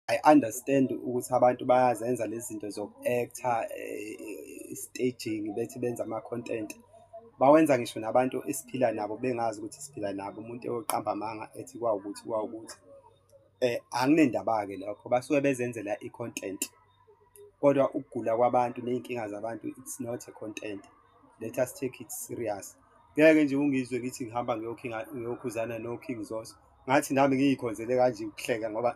I understand ukuthi abantu bayazenza lezi zinto zoku-actha eh, staging bethi benza ama-content bawenza ngisho nabantu esiphila nabo bengazi ukuthi siphila nabo umuntu eyoqamba amanga ethi kwawukuthi kwawukuthi eh anginendaba-ke lokho basuke bezenzela i-content kodwa ukugula kwabantu ney'nkinga zabantu it's not a content let us take it serious ngeke nje ungizwe ngithi ngihamba ngiyokhuzana no-king zos ngathi nami ngiyikhonzele kanje ukuhleka ngoba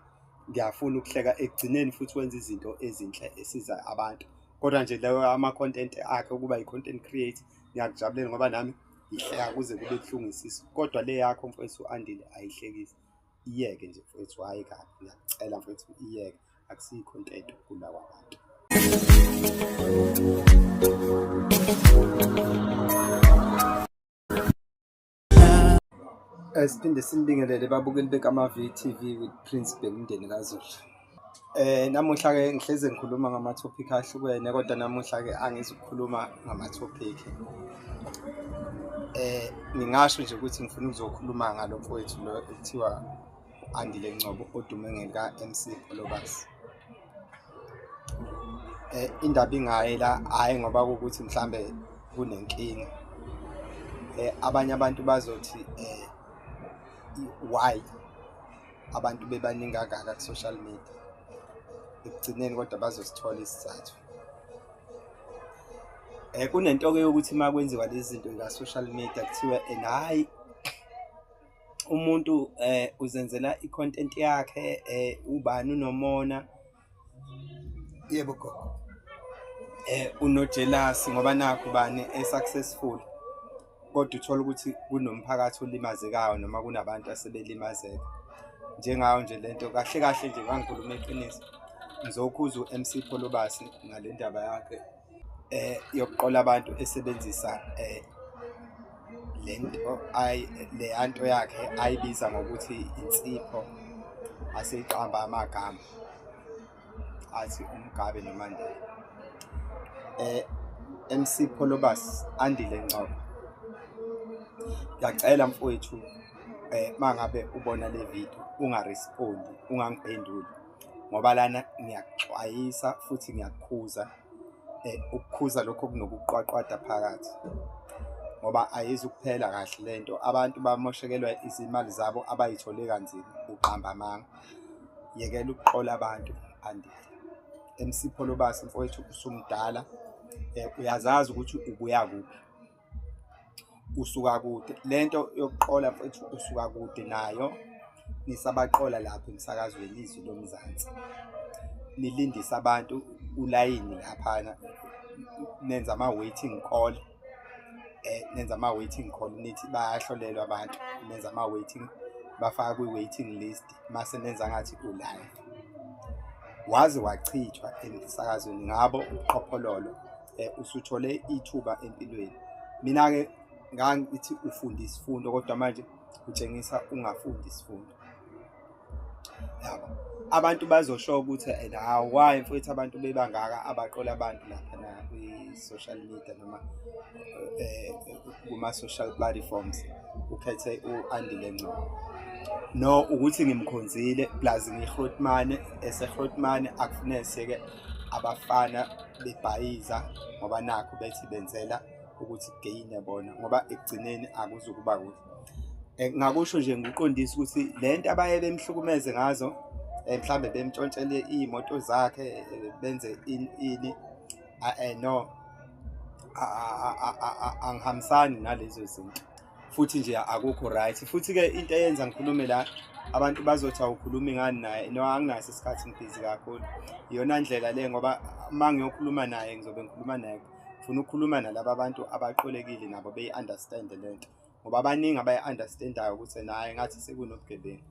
ngiyafuna ukuhleka ekugcineni futhi wenza izinto ezinhle esiza abantu kodwa nje leyo ama-content akhe ukuba yi-content create ngiyakujabulela ngoba nami ngihleka kuze kube buhlungu isisu kodwa le yakho mfowethu andile ayihlekisi iyeke nje mfowethu hhayi kabi ngiyakucela mfowethu iyeke akusiyi content ukugula kwabantu Eh, siphinde simbingelele babukeli bekama-VTV with Prince Bhekundeni kaZulu. Eh namuhla ke ngihleze ngikhuluma ngama topic ahlukene kodwa namuhla ke angizukukhuluma ngama topic. Eh ngingasho nje ukuthi ngifuna ukuzokhuluma ngalo mfowethu lo ekuthiwa Andile Ngcobo odume ngelika MC Olobasi. Eh, indaba ingayi la hhayi ngoba kuwukuthi mhlawumbe kunenkinga eh, abanye abantu bazothi eh, why abantu bebaningi kangaka ku-social media ekugcineni kodwa bazosithola isizathu um kunento-ke yokuthi uma kwenziwa lezi zinto zika-social media kuthiwa and hhayi umuntu eh uzenzela icontent yakhe eh ubani unomona yebo gogo eh unojealous ngoba nakho bani esuccessful kodwa uthola ukuthi kunomphakathi olimazekayo noma kunabantu asebelimazeka njengayo nje lento kahle kahle nje ngangikhuluma iqiniso ngizokhuza uMC Pholobasi ngalendaba yakhe eh yokuqola abantu esebenzisa eh lento ay le anto yakhe ayibiza ngokuthi insipho aseyiqamba amagama athi umgabe nomandela eh MC Pholobas andile Ngcobo ngiyacela mfowethu eh mangabe ubona le video ungarespondi ungangiphenduli ngoba lana ngiyakuxwayisa futhi ngiyakukhuza um ukukhuza lokho okunokuqwaqwada phakathi ngoba ayizi ukuphela kahle le nto abantu bamoshekelwa izimali zabo abayithole kanzima uqamba amanga yekela ukuqola abantu andile emsipho lobasi mfowethu usumdala um uyazazi ukuthi ubuya kuphi usuka kude lento yokuqola mfethu usuka kude nayo nisabaqola lapho emsakazweni izwi lomzansi nilindisa abantu ulayini laphana nenza ama waiting call eh nenza ama waiting call nithi bayahlolelwa abantu nenza ama waiting bafaka kwi waiting list mase nenza ngathi ulive waze wachithwa emsakazweni ngabo uqhophololo eh, usuthole ithuba empilweni mina ke ngangithi ufunda isifundo kodwa manje utshengisa ungafundi isifundo yabo abantu bazosho ukuthi and how why mfowethu abantu bebangaka abaqola abantu lapha na kwi-social media noma eh, kuma-social platforms ukhethe u-andile ngcobo no ukuthi ngimkhonzile plus ngihrotmane esehrotmane akufuneke seke abafana bebhayiza ngoba nakho bethi benzela ukuthi geyine bona ngoba ekugcineni akuzukuba kuhle eh, ngakusho nje ngiqondisa ukuthi le nto abaye bemhlukumeze ngazo eh, mhlambe bemtshontshele iy'moto zakhe eh, benze ini no angihambisani nalezo zinto futhi nje akukho right futhi ke into eyenza ngikhulume la abantu bazothi awukhulumi ngani naye no anginaso isikhathi ngibhizi kakhulu iyona ndlela le ngoba uma ngiyokhuluma naye ngizobe ngikhuluma naye funa ukukhuluma nalaba bantu abaqolekile nabo beyi-understand le nto ngoba abaningi abayi-understandayo ukuthi naye ngathi sekunobugebengu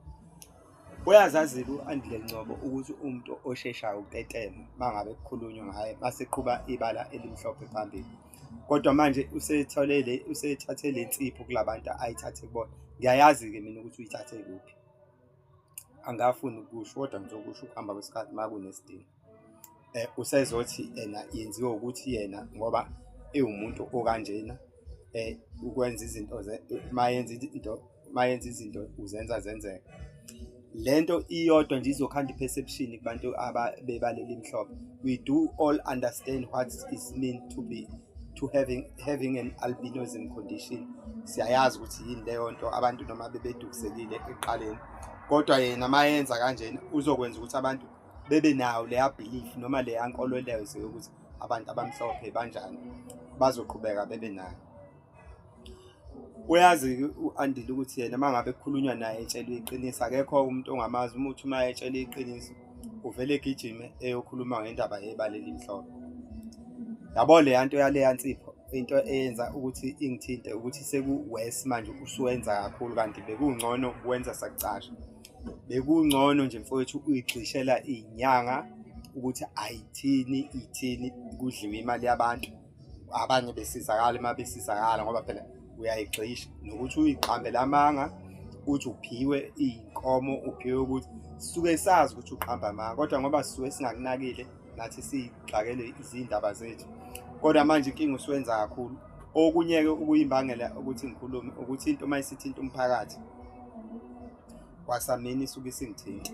Uyazazile u-Andile Ngcobo ukuthi umuntu osheshayo utetema mangabe kukhulunywa ngaye maseqhuba ibala elimhlophe phambili kodwa manje usethole le usethathe le nsipho kulabantu ayithathe kubona ngiyayazi ke mina ukuthi uyithathe kuphi angafuni ukusho kodwa ngizokusho ukuhamba kwesikhathi makunesidingo eh, usezothi yena yenziwe ukuthi yena ngoba ewumuntu okanjena eh ukwenza izinto mayenza into mayenza izinto uzenza zenzeka lento iyodwa nje izokhanda perception kubantu abebaleli imhlophe we do all understand what is mean to be to having having an albinism condition siyayazi ukuthi yini leyo nto abantu noma bebedukisekile eqaleni kodwa yena mayenza kanjena uzokwenza ukuthi abantu bebe nawo leya belief noma leya nkolwelezo yokuthi abantu abamhlophe banjani bazoqhubeka bebe nayo uyazi u-andile ukuthi yena uma ngabe kukhulunywa naye etshelwe iqiniso akekho umuntu ongamazi umuthi uma etshelwe iqiniso uvele egijime eyokhuluma ngendaba yebala elimhlophe yabo leya nto yaleya nsipho into eyenza ukuthi ingithinte ukuthi seku-wes manje usuwenza kakhulu kanti bekungcono kuwenza sakucasha bekungcono nje mfowethu uyigxishela inyanga ukuthi ayithini ithini kudliwe imali yabantu abanye besizakala uma besizakala ngoba phela uyayigxisha nokuthi uyiqambele amanga uthi uphiwe iy'nkomo uphiwe ukuthi sisuke sazi ukuthi uqamba amanga kodwa ngoba sisuke singakunakile nathi siyixakele izindaba zethu kodwa manje inkinga usuwenza kakhulu okunye-ke ukuyimbangela ukuthi ngikhulume ukuthi into uma isithinta umphakathi kwasamini isuke isingithinta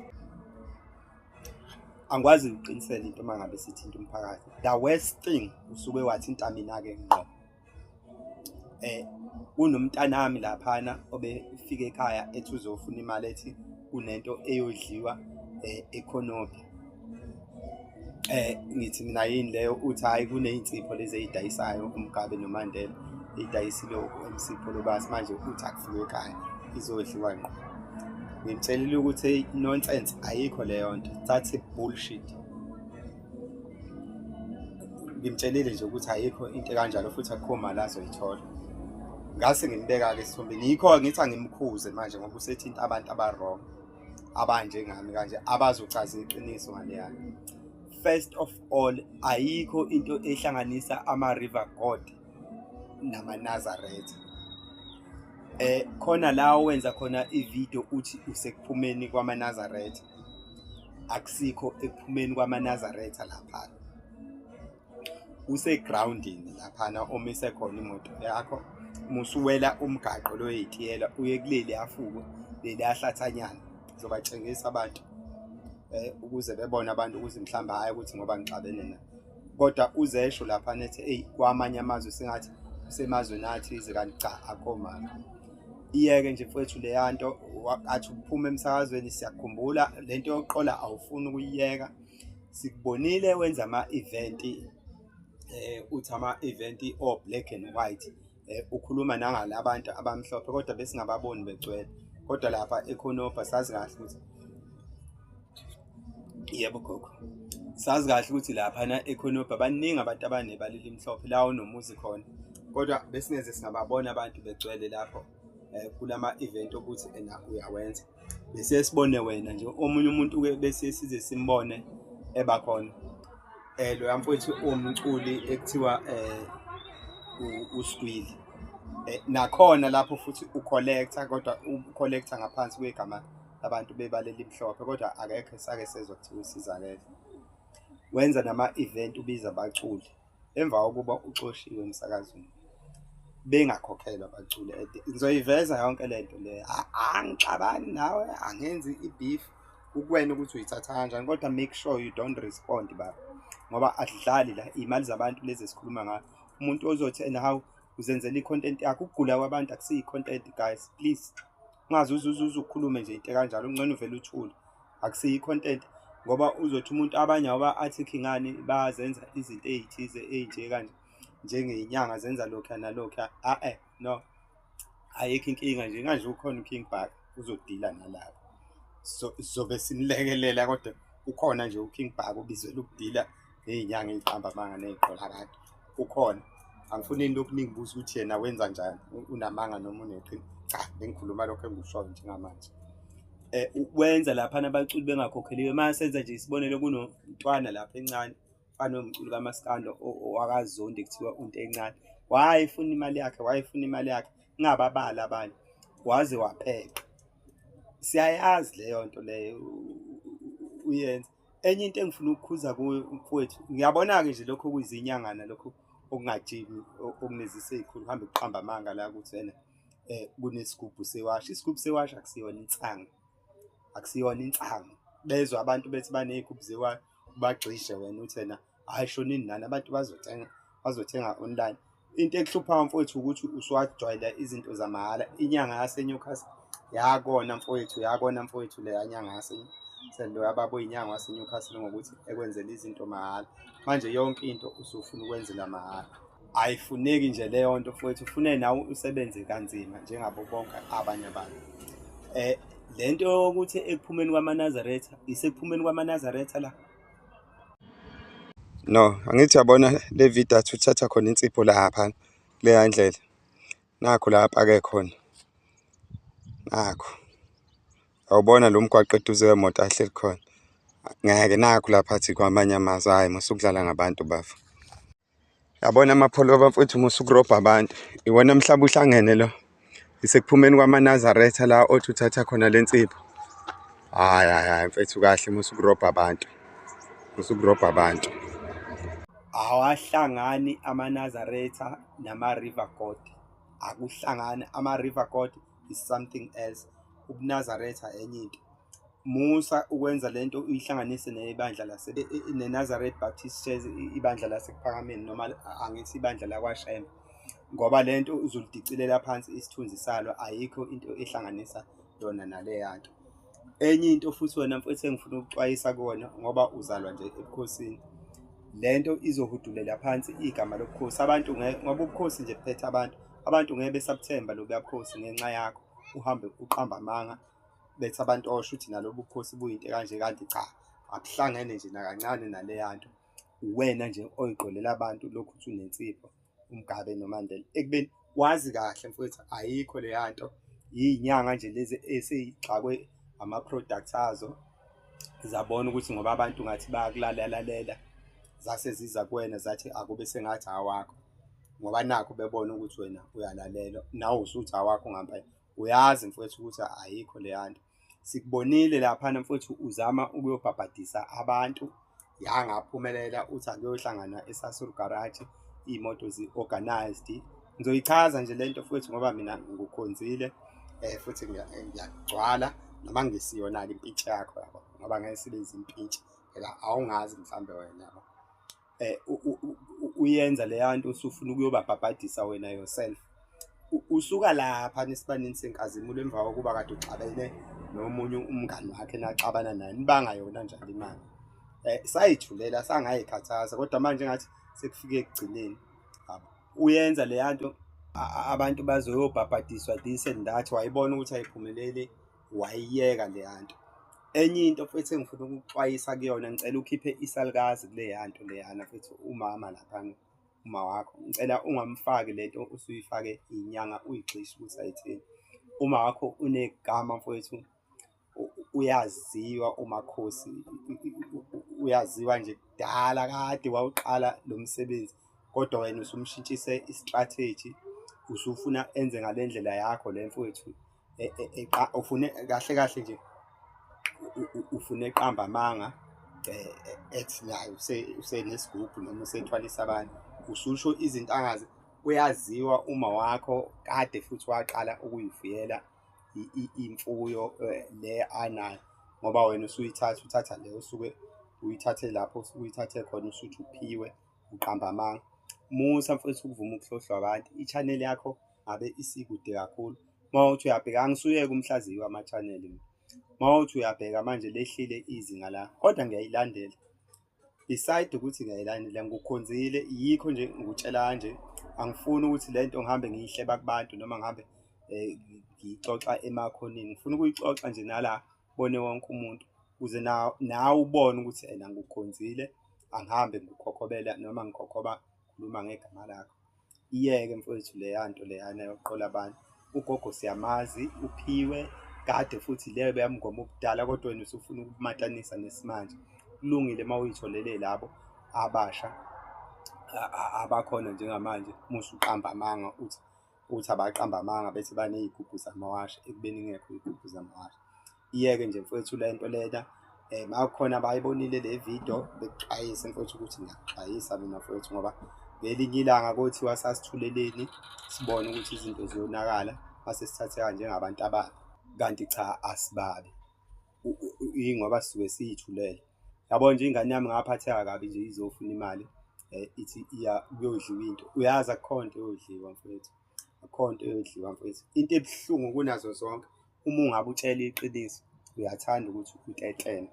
angikwazi ukuqinisela into uma ngabe sithinta umphakathi the worst thing usuke wathinta mina-ke ngqo um eh, kunomntanami laphana obefike ekhaya ethi uzofuna imali ethi kunento eyodliwa um ekhonophi eh ngithi mina yini leyo uthi hayi kunezinsipho lezi ezidayisayo umgabe nomandela idayisile umsipho lobasi manje uthi akufike ekhaya izodliwa ngqo ngimtshelile ukuthi nonsense ayikho leyo nto that's a bullshit ngimtshelile nje ukuthi ayikho into kanjalo futhi akukho mali azoyithola ngase ngimbeka-ke esithombeni yikho ngithi angimkhuze manje ngoba usethinta abantu aba-wrong abanjengami kanje abazochaza iqiniso ngaleyana first of all ayikho into ehlanganisa ama-river god namanazaretha eh khona la wenza khona ivideo uthi usekuphumeni kwamanazaretha akusikho ekuphumeni kwamanazaretha lapha usegroundini laphana omise khona imoto yakho musuwela umgaqo loyitiyela uye kuleli afuko leli ahlathanyana zobatshengisa abantu eh ukuze bebone abantu ukuthi mhlamba hayi ukuthi ngoba ngixabene na kodwa uzesho lapha nethi hey kwamanye amazwe singathi semazweni athi kanti cha akho mama iyeke nje mfowethu leyanto athi uphuma emsakazweni siyakhumbula lento yokuqola awufuni ukuyiyeka sikubonile wenza ama-event eh uthi ama-event o-black and white eh ukhuluma nangala abantu abamhlophe kodwa besingababoni begcwele kodwa lapha ekhonopha sazi kahle ukuthi yebo gogo sazi kahle ukuthi laphana ekhonobha baningi abantu abanebala elimhlophe la onomuzi khona kodwa besingeze singababona abantu begcwele lapho um kulama-event okuthi ena uyawenza bese sibone wena nje omunye umuntu ke bese size simbone eba khona eh lo yamfowethu umculi ekuthiwa eh uskwili eh, nakhona lapho futhi ucollecta kodwa ucollecta ngaphansi kwegama abantu bebaleli imhlophe kodwa akekho sake sezwa kuthiwa usizakele wenza nama-event ubiza abaculi emva kokuba uxoshiwe emsakazweni bengakhokhelwa bacule ngizoyiveza yonke le nto le angixabani nawe angenzi i-beef kukwena ukuthi uyithatha kanjani kodwa make sure you don't respond baba ngoba adlali la iy'mali zabantu lezi esikhuluma ngayo umuntu ozothi and how uzenzela i-content yakho ukugula kwabantu akusiyi-content guys please ungaze uzuzuze ukhulume nje into kanjalo ungcono uvele uthule akusiyi content ngoba uzothi umuntu abanye awuba article ngani bazenza izinto ezithize ezinje kanje njengenyanga zenza lokho nalokho a eh no ayikho inkinga nje kanje ukhona uKing Bhaka uzodila nalabo so sobe sinilekelela kodwa ukhona nje uKing Bhaka ubizela ukudila ney'nyanga ey'qamba amanga ney'qolakade ukhona angifuni into okuningi buza ukuthi yena wenza njani unamanga noma uneqini cha bengikhuluma lokho engikushoyo njengamanje eh ukwenza lapha nabaculi bengakhokheliwe manje senza nje isibonelo kunomntwana lapha encane fana nomculi kamaskando owakazondi kuthiwa unto encane wayefuna imali yakhe wayefuna imali yakhe ngababala abanye waze wapheqa siyayazi leyo nto leyo uyenza enye into engifuna ukukhuza mfowethu ngiyabona-ke nje lokho okuyizinyangana lokho okungajimi okunezise ey'khulu kuhambe kuqamba amanga la ukuthi wena um kunesigubhu sewasha isigubhu sewasha akusiyona insangu akusiyona insangu bezwa abantu bethi baney'gubhu zewasha ubagxishe wena uthi wena hhayi shonini nani abantu bazothenga bazothenga online into ekuhluphayo mfowethu ukuthi usuwajwayela izinto zamahhala inyanga yaseNewcastle yakona mfowethu yakona mfowethu leya nyanga yaseNewcastle sendo yababa oyinyanga waseNewcastle ngokuthi ekwenzela izinto mahhala manje yonke into usufuna ukwenzela mahhala ayifuneki nje leyo nto futhi ufune nawe usebenze kanzima njengabo bonke abanye abantu eh lento yokuthi ekuphumeni kwamanazaretha isekuphumeni kwamanazaretha la no angithi yabona le video athi uthatha khona insipho lapha kuleya ndlela nakho la apake khona nakho awubona lo mgwaqo eduze wemoto ahleli khona ngeke nakho lapha athi kwamanye amazwi hhayi masukudlala ngabantu bafo yabona amapholoba mfowethu uma usukurobha abantu iwona mhlaba uhlangene lo isekuphumeni kwamanazaretha la othi uthatha khona le nsipho hhayi hhayi hhayi mfethu kahle uma usukurobha abantu uma usukurobha abantu awahlangani amanazaretha nama-river god akuhlangani ama-river god is something else ubunazaretha enye into musa ukwenza lento uyihlanganise nebandla lase e, e, e, neNazareth Baptist Church ibandla lasekuphakameni noma angithi ibandla lakwashembe ngoba lento uzulidicilela phansi isithunzi salo ayikho into ehlanganisa yona naleyanto enye into futhi wena mfethu engifuna ukuxwayisa kuwona ngoba uzalwa nje ebukhosini lento izohudulela phansi igama lobukhosi abantu ngoba ubukhosi nje buphethe abantu abantu ngeke besabuthemba lobuya bukhosi ngenxa yakho uhambe uqamba amanga betha abantu osho ukuthi nalobu bukhosi buyinto kanje kanti cha akuhlangene nje nakancane naleya nto uwena nje oyigqolela abantu lokhu uthi unensipho umgabe nomandela ekubeni wazi kahle mfowethu ayikho leya nto yinyanga nje lezi eseyixakwe ama-products azo zabona ukuthi ngoba abantu ngathi bayakulalelalela zase ziza kuwena zathi akube sengathi awakho ngoba nakho bebona ukuthi wena uyalalela nawe usuthi awakho ngampela uyazi mfowethu ukuthi ayikho leya nto sikubonile laphana mfowethu uzama ukuyobhabhadisa abantu yangaphumelela uthi akuyohlangana esasur garage iy'moto zi-organized ngizoyichaza nje le nto futhi ngoba mina ngukhonzile um futhi ngiyagcwala noma ngisiyona-ke impintshi yakho yabo ngoba ngeke sibe izimpintshi phela awungazi mhlawumbe wena yabo eh uyenza leya nto usufuna ukuyobabhabhadisa wena yourself usuka lapha nesibanini senkazimulo emva kokuba kade uxabene nomunye umngani wakhe naxabana naye nibanga yona njalo imali eh sayithulela sangayikhathaza kodwa manje ngathi sekufike ekugcineni uyenza leya nto abantu bazoyobhabhadiswa this and that wayibona ukuthi ayiphumeleli wayiyeka leya nto enye into futhi engifuna ukuxwayisa kuyona ngicela ukhiphe isalukazi kuleya nto leyana futhi umama laphana uma wakho ngicela ungamfaki le nto usuyifake inyanga uyigxishe ukuthi ayithini uma wakho unegama mfowethu u- uyaziwa umakhosi i- i- i- uyaziwa nje kudala kade wawuqala lo msebenzi kodwa wena usumshintshise i-strategy usufuna enze ngale ndlela yakho le mfowethu e, e, e, ufune kahle kahle nje ufune eqamba amanga ethi nayo usenesigubhu noma usethwalisa abantu ususho izinto angazi uyaziwa uma wakho kade futhi waqala ukuyifuyela imfuyo le anayo ngoba wena usuyithatha uthatha le usuke uyithathe lapho uyithathe khona usuthi uphiwe uqamba amanga musa mfethu ukuvuma ukuhlohlwa abantu i-channel yakho ngabe isikude kakhulu uma uthi uyabheka angisuyeke umhlaziyi wama-channel uma uthi uyabheka manje lehlile izinga la kodwa ngiyayilandela beside ukuthi ngiyayilandela ngikukhonzile yikho nje ngikutshela kanje angifuni ukuthi le nto ngihambe ngiyihleba kubantu noma ngihambe um ngiyixoxa emakhoneni ngifuna ukuyixoxa nje nala bone wonke umuntu ukuze nawe ubone ukuthi ena ngikukhonzile angihambe ngikhokhobela noma ngikhokhoba khuluma ngegama lakho Iyeke mfowethu leya nto leyana yokuqola abantu. Ugogo siyamazi, uphiwe kade futhi leyo beyamngoma ubudala kodwa wena usufuna ukumatanisa nesimanje. Kulungile uma uyitholele labo abasha abakhona njengamanje musu uqamba amanga uthi uthi abaqamba amanga bese baney'gubhu zamawasha ekubeni ingekho iy'gubhu zamawasha. iyeke nje mfowethu le nto lena um makukhona abayibonile le video bekuxwayise mfowethu ukuthi ngiyakuxwayisa mina mfowethu ngoba ngelinye ilanga kothi wasasithuleleni sibone ukuthi izinto ziyonakala mase sithatheka njengabantu ababi kanti cha asibabi ingoba sisuke siyithulele yabo nje ingane yami ngaphatheka kabi nje izofuna imali um ithi iya kuyodliwa into uyazi akukho nto eyodliwa mfowethu akukho nto eyodliwa mfowethu into ebuhlungu kunazo zonke uma ungabe utshela iqiniso uyathanda ukuthi uteteme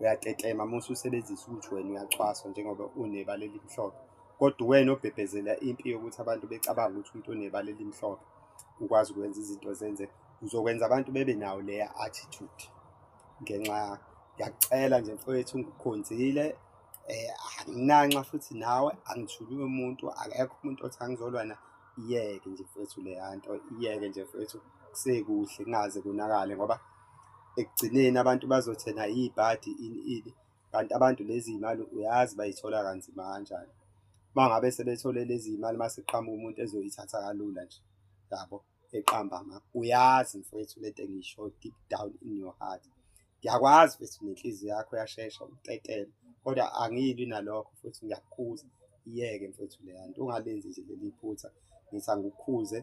uyatetema uma ususebenzisa ukuthi wena uyacwaswa njengoba unebala elimhlophe kodwa uwena obhebhezela impi yokuthi abantu becabanga ukuthi umuntu onebala elimhlophe ukwazi ukwenza izinto zenze uzokwenza abantu bebe nawo leya attitude ngenxa ngiyacela nje mfowethu ngikukhonzile eh anginanxa futhi nawe angithuli umuntu akekho umuntu othi angizolwana iyeke nje mfowethu leyanto iyeke nje mfowethu kusekuhle kungaze konakale ngoba ekugcineni abantu bazothi ena iy'bhadi ini ini kanti abantu lezi y'mali uyazi bayithola kanzima kanjani uma ngabe sebethole lezi y'mali uma seqhamuka umuntu ezoyithatha kalula nje yabo eqamba ma uyazi mfowethu le nto engisho deep down in your heart ngiyakwazi futhi nenhliziyo yakho yashesha ukutetela kodwa angilwi nalokho futhi ngiyakukhuza iyeke mfethu leya nto ungalenzi nje leli phutha ngithi angikukhuze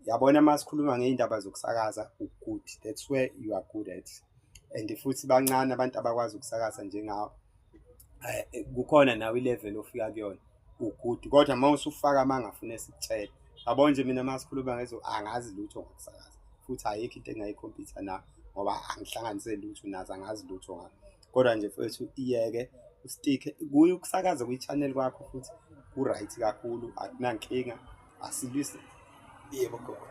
yabona uma sikhuluma ngey'ndaba zokusakaza u-good that's where you are good at and futhi bancane abantu abakwazi ukusakaza njengawo eh, kukhona nawe ilevel ofika kuyona ugudu kodwa uma usufaka amanga afuna esikutshela yabo nje mina uma sikhuluma ngezo angazi lutho ngokusakaza futhi ayikho into engayikhompyutha na ngoba angihlanganise lutho nazo angazi lutho ngakho kodwa nje futhi iyeke ustikhe kuye ukusakaza kwi-channel kwakho futhi ku-right kakhulu akunankinga asilwise yebo gogo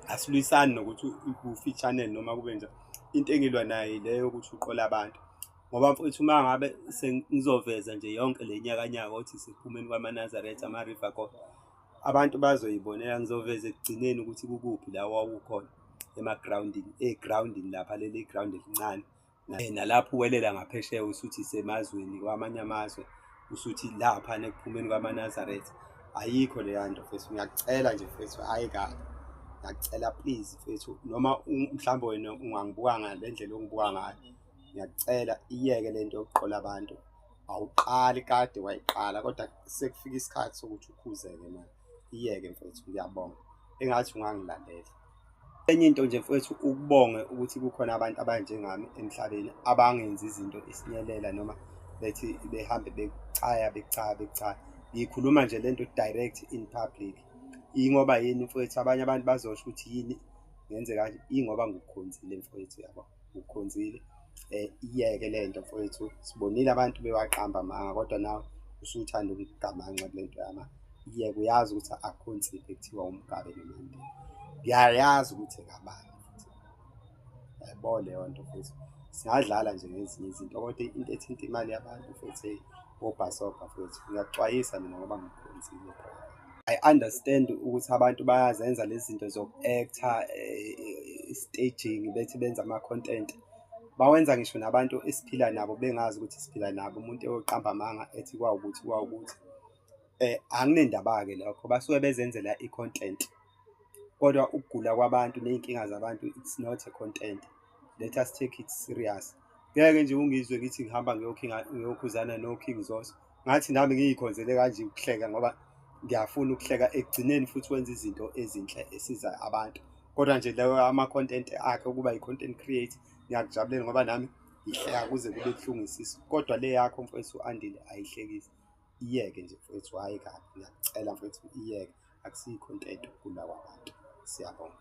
asilwisani nokuthi kufi i-channel noma kube njani into engilwa nayo leyo ukuthi uqola abantu ngoba mfowethu uma ngabe sengizoveza nje yonke le nyakanyaka othi siphumeni kwamanazaretha ama-river god abantu bazoyibonela ngizoveza ekugcineni ukuthi kukuphi la wawukhona emagroundini egroundini lapha leli ground elincane nalapho uwelela ngaphesheya usuthi semazweni kwamanye amazwe usuthi lapha nekuphumeni kwamanazaretha ayikho leya nto fethu ngiyacela nje fethu hhayi kabi ngiyacela please fethu noma mhlawumbe wena ungangibuka ngale ndlela ongibuka ngayo ngiyakucela iyeke lento yokuqola abantu awuqali kade wayiqala kodwa sekufika isikhathi sokuthi ukhuzeke manje iyeke mfethu ngiyabonga engathi ungangilalela enye into nje mfethu ukubonge ukuthi kukhona abantu abanjengami emhlabeni abangenzi izinto isinyelela noma bethi behambe becaya becaya becaya ngikhuluma nje lento direct in public ingoba yini mfowethu abanye abantu bazosho ukuthi yini ngenze kanje ingoba ngikukhonzile mfowethu yabo ukhonzile eh iyeke lento mfowethu sibonile abantu bewaqamba manga kodwa nawe usuthanda ukugamanxa kulento yama iyeke uyazi ukuthi akhonzile kuthiwa umgabe nomande ngiyayazi ukuthi kabani yayibona leyo nto futhi singadlala nje ngezinye izinto kodwa into ethinta imali yabantu futhi wobhasobha futhi ngiyakuxwayisa mina ngoba ngikhonzile I understand ukuthi abantu bayazenza lezi zinto zoku-actor eh, staging bethi benza ama-content bawenza ngisho nabantu esiphila nabo bengazi ukuthi siphila nabo umuntu eyoqamba amanga ethi kwawukuthi kwawukuthi eh anginendaba-ke lokho basuke bezenzela i-content kodwa ukugula kwabantu ney'nkinga zabantu it's not a content let us take it serious ngeke nje ungizwe ngithi ngihamba ngiyokhuzana no-king zos ngathi nami ngiyikhonzele kanje ukuhleka ngoba ngiyafuna ukuhleka ekugcineni futhi wenza izinto ezinhle esiza abantu kodwa nje leyo ama-content akhe ukuba yi-content create ngiyakujabulela ngoba nami ngihleka kuze kube buhlungu isisu kodwa le yakho mfowethu u-andile ayihlekisi iyeke nje mfowethu hhayi kabi ngiyakucela mfowethu iyeke akusiyi-content ukugula kwabantu siyabonga